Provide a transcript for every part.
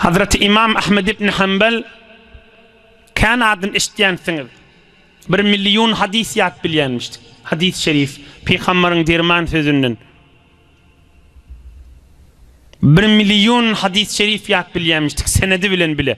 Hazreti Imam Ahmed ibn Hanbal kän adyny eşitýänsiňiz. Bir million hadys ýat bilýänmiş. Hadys şerif Pygamberiň derman sözünden. Bir million hadys şerif ýat bilýänmişdik senedi bilen bile.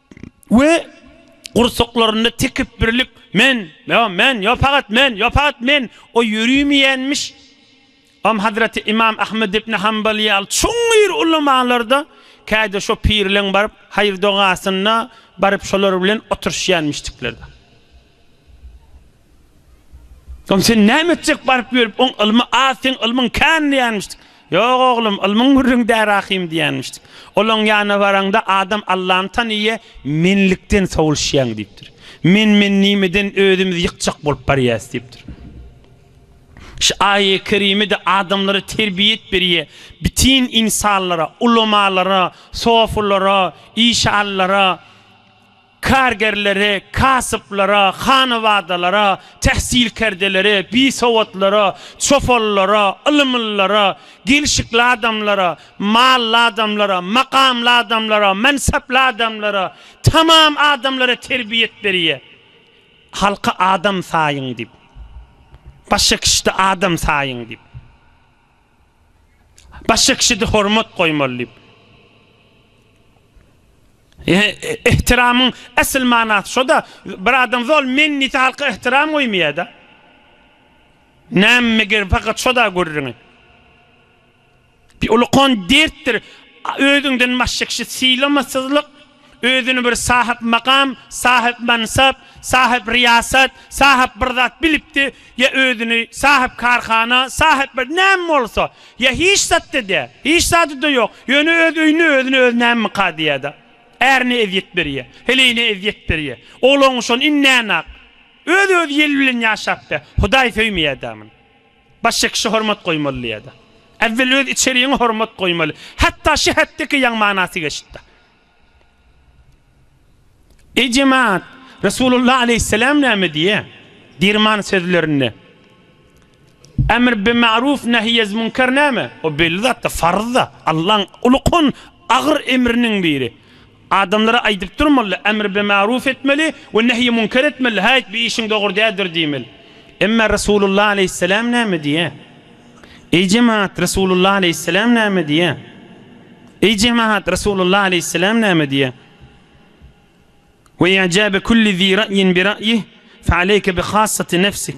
We gursaklarynda tekepbirlik, Men, ýa men, ýa pagat men, ýa pagat men o ýörimeýänmiş. Am hazreti Imam Ahmed ibn Hanbal ýaly çuňňur ulamalarda käýde şo pirleň baryp haýyr-dogasyna baryp şolar bilen oturyşýanmişdikler. Soň sen näme etjek baryp ýörüp oň ylmy az seň ylmyň kän diýenmişdik. Ýok oglum ylmyň gürrüň dä Rahym diýenmişdik. Olaň ýanyna baraňda adam Allany tanyýa menlikden sowulşýaň diýipdir. Men men nimeden özümiz ýykjak bolup barýas diýipdir. Şu aýe kerimede adamlara terbiýet berýä bitin ynsanlara, ulamalara, sofulara, işanlara, Kargerlere, kasyplara, hanabadalara, tähsilkerdelere, bisowatlara, çopanlara, ylymlylara, gelşikli adamlara, mally adamlara, makamly adamlara, mansaply adamlara, tamam adamlara terbiýet berýär. Halky adam saýyň diýip. Başga kişide adam saýyň diýip. Başga kişide hormat goýmaly diýip. Ihtiramyň esl manasy şo-da, bir adam zol men diýse halka ihtiram goýmaýar-da. Näme meger pakat şo-da gürrüňi. Bir ulukan dertdir özüňden başga kişi sylamasyzlyk. Özüni bir sahypmakam, sahypmansap, sahypryýasat, sahyp bir zat bilipdi, ýa özüni sahypkarhana, sahyp bir näme bolsa, ýa hiç zat-da däl, hiç zady-da ýok, ýöne öz öýünde özüne özi nämemika diýýär-de, ärine ezýet berýär, heleýine ezýet berýär, oglan-guşan indänäk öz-özi ýel bilen ýaşapdy, Hudaý söýmeýär-dä muny. Başga kişä hormat goýmaly diýýärdi. Äwwel öz içerigiňe hormat goýmaly. Hatda şi hätdeki ýaň manasy geçdi. Eý jemat, Resulullah aleýhisselam näme diýýär? Dirman sözlerinde. Emr bi ma'ruf nehyez münker näme? O belli zat-da, farz-da. Allaň uly kon agyr emriniň biri. Adamlara aýdyp durmaly, emr bi maruf etmeli we nehy munker etmeli, haýt bu işiň dogry däldir diýmeli. Emma Resulullah aleýhissalam näme diýýär? Eý jemaat, Resulullah aleýhissalam näme diýýär? Eý jemaat, Resulullah aleýhissalam näme diýýär? Wa ijabe kulli zi ra'yin bi ra'yih, fa aleyke bi khassati nefsik.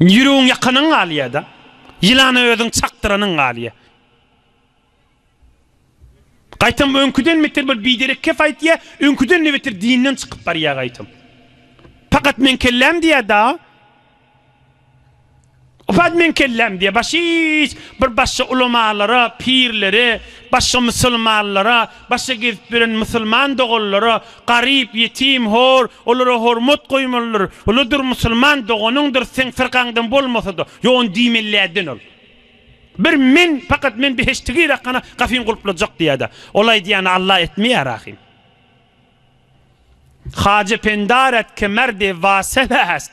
Ýüregiň ýakanyň galýada. Ýylana özüň çakdyranyň galýa. Gaýtam öňküden beter bir biderek kep aýtýa, öňküden-de beter dinden çykyp barýa gaýtam. Pakat meň kelläm diýä-da. Pakat meň kelläm diýä. Başga hiç bir başga ulamalara, pirlere, başga musulmanlara, Başga gezip ýören musulman doganlara, garyp, ýetim, hor, olara hormat goýmalydyr. Uludyr musulman doganyňdyr, seň fyrkaňdan bolmasa-da, ýon diýmelidädin ol. Bir men, pakat men behişdi girak hana, gafyň gulplajak diýädä. Ol aýdýany Alla etmeýär ahym. Haja pendaret ke merde wasef est.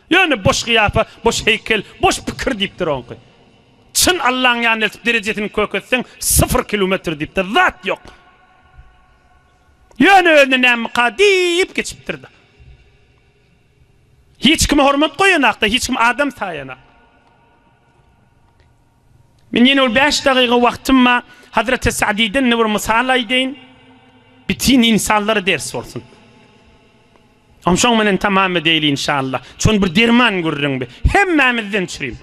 Ýöne boş gyýapa, boş heýkel, boş pikir diýipdir oňky. Çyn Allaň ýanyna eltip derejesini köketseň syfyr kilometr diýipdir, zat ýok. Ýöne özüne nämika diýip geçipdir-de. Hiç kime hormat goýanak-da, hiç kim adam saýanak. Men ýene bir bäş dagyga wagtym bar, Hazreti Sa'diden-de bir mysal aýdaýyn, bütin ynsanlara ders bolsun. Om şoň menen tamam edeýli inşallah. Çün bir derman gürrüň bi. Hemmämizden çürim.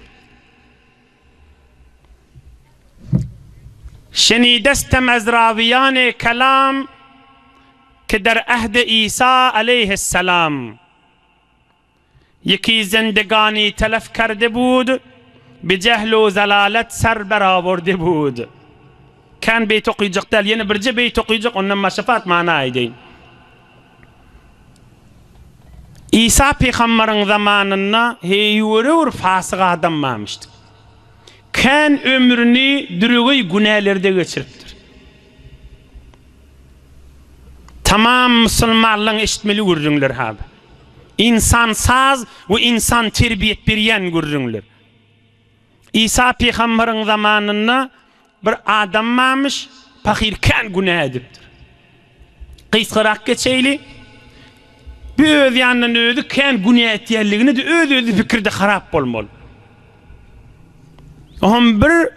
Şenidestem ez rawiýane kelam ki der ahde Isa aleyhissalam. Ýeki zendegani telef kerde bud, bi jehl u zelalet ser ber awurde bud. Kän beýt okyjak däl, ýene birje beýt okyjak, ondan maşapat mana aýdaýyn. Isa pygamberiň zamanynda heýwere bir fasyk adam barmyşdyk. Kän ömrüni düregeý günälerde geçiripdir. Tamam musulmanlaň eşitmeli gürrüňleri ha bu. Ynsansaz we ynsan terbiýet berýän gürrüňler. Isa pygambaryň zamanynda bir adam barmyş, pahyr kän günä edipdir. Gysgarak geçeýli, bu öz ýanyndan özi kän günä etýänligini-de öz-özüni pikirde harap bolmaly. Oňam bir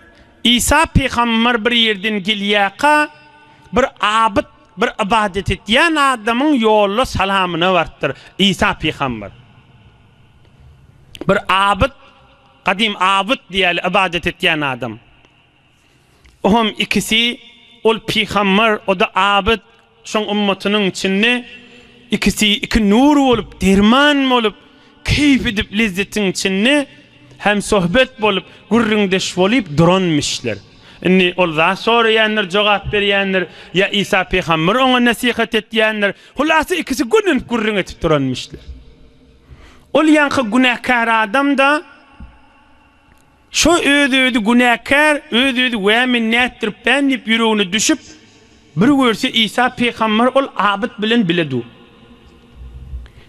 Isa pygambar bir ýerden gelýärka, bir abyt Bir ybadat etýän adamyň ýolda salamyna barypdyr Isa pygamber. Bir abyt, gadym abyt diýeli ybadat etýän adam. O hem ikisi ol pygamber, o-da abyt, şoň ymmatynyň içinde ikisi iki nur bolup, derman bolup, Keýp edip lezzetiň içinde hemsohbet bolup, gürrüňdeş bolyp duranmyşlar. Indi ol zat soraýandyr, jogap berýändir, ýa Isa pygamber oňa nesihat etýändir, hulasa ikisi gürlenip gürrüň edip duranmyşlar. Ol ýaňky günäkär adam-da. Şo öz-özi günäkär, öz-özi wä men nätdiripdän diýip ýüregine düşüp, bir görse Isa pygamber ol abyt bilen bile dur.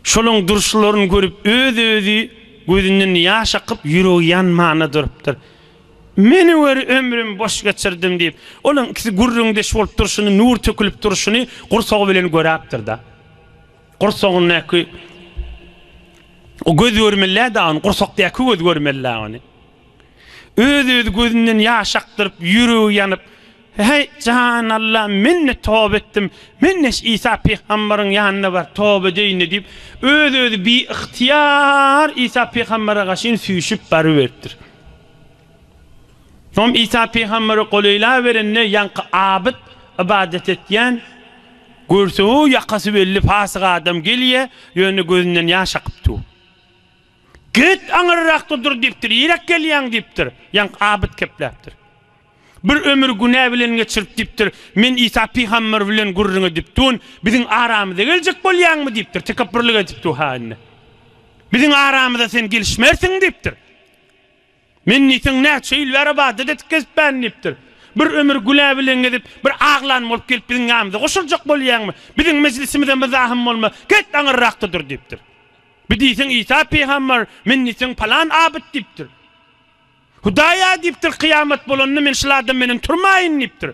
Şolaryň durşlaryny görüp öz-özi gözünden ýaş akyp ýüregi ýanmana durypdyr. Meni gör ömrüm boş geçirdim diýip, olaryň ikisi gürrüňdeş bolup durşuny nur tökülip durşuny gursagy bilen göräpdir-da. Gursagyndaky o göz görmeli-dä ony, gursakdaky göz görmeli-dä ony. Öz-öz gözünden ýaş akdyryp, ýüregi ýanyp, Heý, jan Alla, men-de toba etdim, men-de şu Isa pygambaryň ýanyna baryp toba edeýin-de diýip, öz-özi biygtyýar Isa pygambara gaşyn süýşüp baryberipdir. Soň Isa pygambere golaýlaberende, ýaňky abyt, ybadat etýän, görse-ow, ýakasy belli pasyk adam gelýär, ýöne gözünden ýaş akyp dur. Git, aňyrrakda dur diýipdir, iräk gelýäň diýipdir. Ýaňky abyt kepläpdir. Bir ömür günä bilen geçirip diýipdir, Men Isa pygamber bilen gürrüň edip duryn, biziň aramyza geljek bolýaňmy diýipdir, tekepbürlik edip dur-ha indi. Biziň aramyza sen gelişmersiň diýipdir. Men diýseň näçe ýyl bäri ybadat edip gezipmen, diýipdir. Bir ömür günä bilen gezip, bir aglan bolup gelip biziň ýanymyza goşuljak bolýaňmy? Biziň mejlisimize myzahyň bolmaz, get aňyrrakda dur, diýipdir. Bu diýseň Isa pygamber, men diýseň palan abyt, diýipdir. Hudaý-a, diýipdir, kyýamat bolanda men şul adam menen turmaýyn, diýipdir.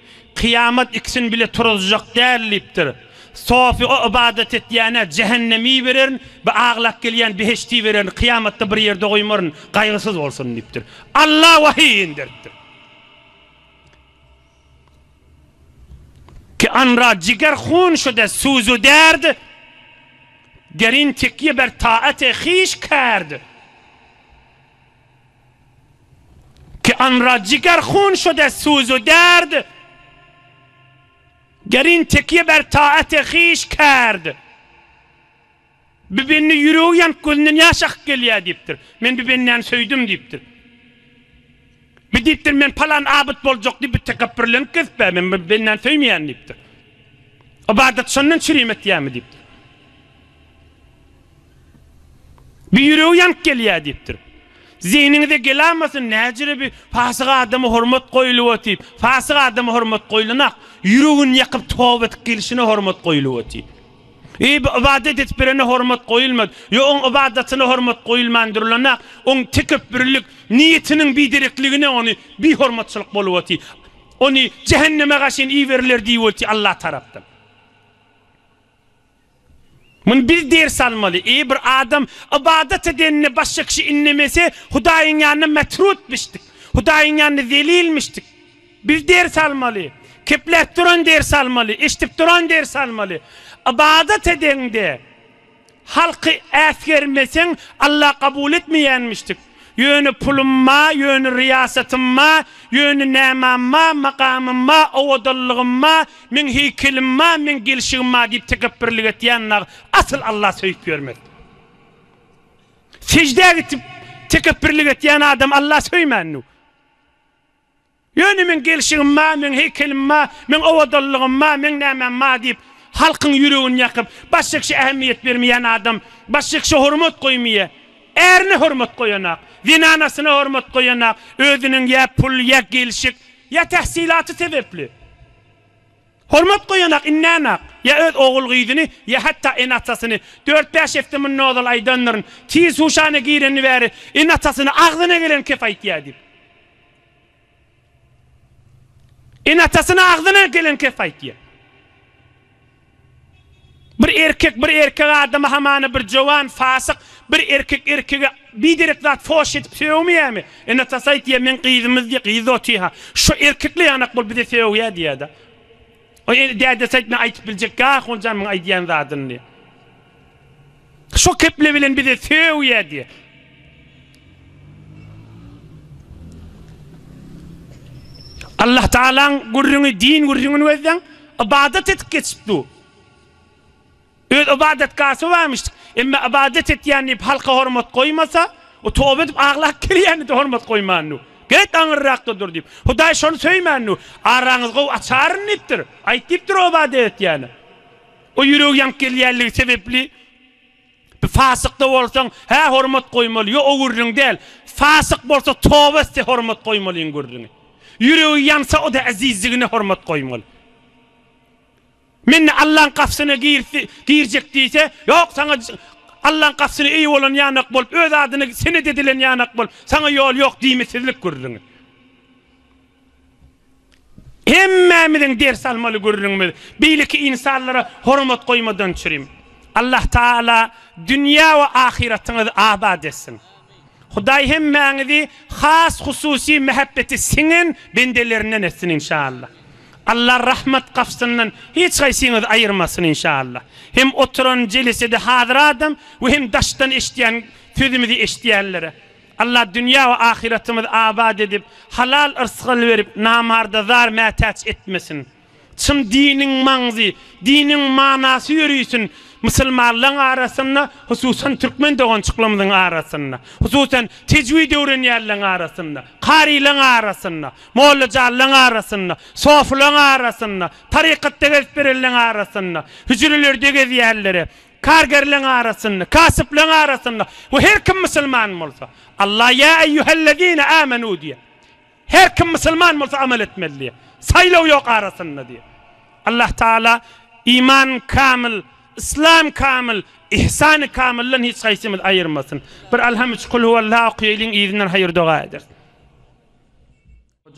Kyýamat ikisini bile turuzjak däl diýipdir. Sofi o ybadat etýänä jähennemi bererin, bu aglap gelýän behişti bererin, kyýamatda bir ýerde goýmaryn, gaýgysyz bolsun diýipdir. Alla wahyý inderipdir. Ki anra jiger hun şude suzu derd, derin tekýe ber taate hiş kerd. Ki anra jiger hun şode suzu derd, Gerin tekiye ber taate hiş kerd. Bibenne ýüregi ýanyp gözünden ýaş akyp gelýär diýipdir. Men bi bendäni söýdüm diýipdir. Bi diýipdir men palan abyt boljak diýip bi tekepbirlenip gezip bär men bi bendäni söýmeýän diýipdir. Ybadat şondan çürim etýärmi diýipdir. Bir ýüregi ýanyp gelýär diýipdir. Zehniňize gelamasyn, näcire bir pasyk adama hormat goýulyba diýip. Pasyk adama hormat goýulanok. Ýüregini ýakyp toba edip gelşine hormat goýulyba diýip. Eý, bir ybadat edip berene hormat goýulmaz. Ýok, oň ybadatyna hormat goýulman durlanok. Oň tekepbürlik, niýetiniň biderekligine ony bihormatçylyk boluba diýip. Ony jähenneme gaşyn iberiler diýildi Alla tarapdan. Muny biz ders almaly. Eýe bir adam ybadat edenine başga kişi innemese Hudaýyň ýanynda metrutmyşdyk. Hudaýyň ýanynda zelilmişdik. Biz ders almaly. Kepläp duran ders almaly. Eşdip duran ders almaly. Ybadat edeňde halky äsgermeseň Alla kabul etmeýänmişdik. Ýöne pulum ma, ýöne ryýasatym ma, ýöne nämam ma, makamym ma, owadallygym ma, meň heýkelim ma, meň gelşigim ma diýip tekepbirlik etýän nag asyl Alla söýüp ýörmez. Seždä gitip tekepbirlik etýän adam Alla söýmännu. Ýöne meň gelşigim bar, meň heýkelim bar, meň owadanlygym bar, meň nämäm bar diýip, halkyň ýüregini ýakyp, başga kişä ähmiýet bermeýän adam, başga kişä hormat goýmaýar. Ärine hormat goýanak, zenanasyna hormat goýanak, özüniň ýa pul, ýa gelşik, ýa tähsilaty sebäpli hormat goýanak, indänak, ýa öz ogul-gyzyny, ýa hatda ene-atasyny. Dört-bäş hepde mundan ozal aýdandyryn, Tiz huşana gireni bäri ene-atasyna agzyna gelen kep aýtýar diýip. Ene-atasyna agzyna gelen kes aýtýar. Bir erkek bir erkek adama hamana bir jowan fasyk bir erkek erkege biderek zat foş edip sögmeýärmi? Ene-atasy aýtýar, meň gyzymyz diýýär, gyzy otyha. Şo erkekle ýanak bol bize sögýär diýýär-de. Dädesi aýtmaz, aýdyp biljek ýa ahunjan muň aýdýan zadyny diýýär. Şo keple bilen bize söw ya diye. Allah Taala'ň gürrüňi din gürrüňini gözleň. Ibadat edip geçipdi. Öz ibadet gası varmış. Emme ibadet etýän diýip halka hormat goýmasa, o toba edip aglap gelýän de hormat goýmandy. Get aňyrrakda dur diýip. Hudaý şony söýmändi. Araňyz gow açaryn diýipdir. Aýt diýipdir o ibadet etýäni. O ýüregi ýanyp gelýänligi sebepli Bir fasykda bolsaň, hä hormat goýmaly, ýo o gürrüň däl. Fasyk bolsa toba etse hormat goýmalyň gürrüňi. Ýüregi ýansa o-da äzizdigine hormat goýmaly. Mende Allaň gapsyna girjek diýse, ýok saňa Allaň gapsyna eýe bolan ýanak bolup, öz adyna senet edilen ýanak bolup, saňa ýol ýok diýmesizlik gürrüňi. Hemmämiziň ders almaly gürrüňimiz beýleki ynsanlara hormat goýmadan çürim. Allah Taala dünýä we ahyratyňyzy abat etsin. Hudaý hemmäňizi has hususy mähebbeti siňen bendelerinden etsin inşallah. Allah rahmat gapsyndan hiç haýsyňyzy aýyrmasyn inşallah. Hem oturan jelesede hazyradam we hem daşdan eşidýän sözümizi eşidýänlere. Alla dünýä we ahyratymyzy abat edip, halal yrsgal berip, namarda zar-mätäç etmesin. Çyn diniň maňzy, diniň manasy ýörisin musulmanlaň arasynda, hususan türkmen dogançyklarymyzyň arasynda, hususan tejwid öwrenýänleň arasynda, karylaň arasynda, mollajanlaň arasynda, sofylaň arasynda, tarykatda gezip berenleň arasynda, hüjrelerde gezýänlere, Kargerleň arasynda, kasypleň arasynda we her kim musulman bolsa, Allah ýa eýýuhellezine âmenû diýýär. Her kim musulman bolsa amal etmeli diýýär. Saýlaw ýok arasynda diýýär. Allah Taala iman kamyl, yslam kamyl, ihsany kamyldan hiç haýsymyzy aýyrmasyn. Bir Alham üç Kul huwallah okaýaýlyň yzyndan haýyr doga edersiň.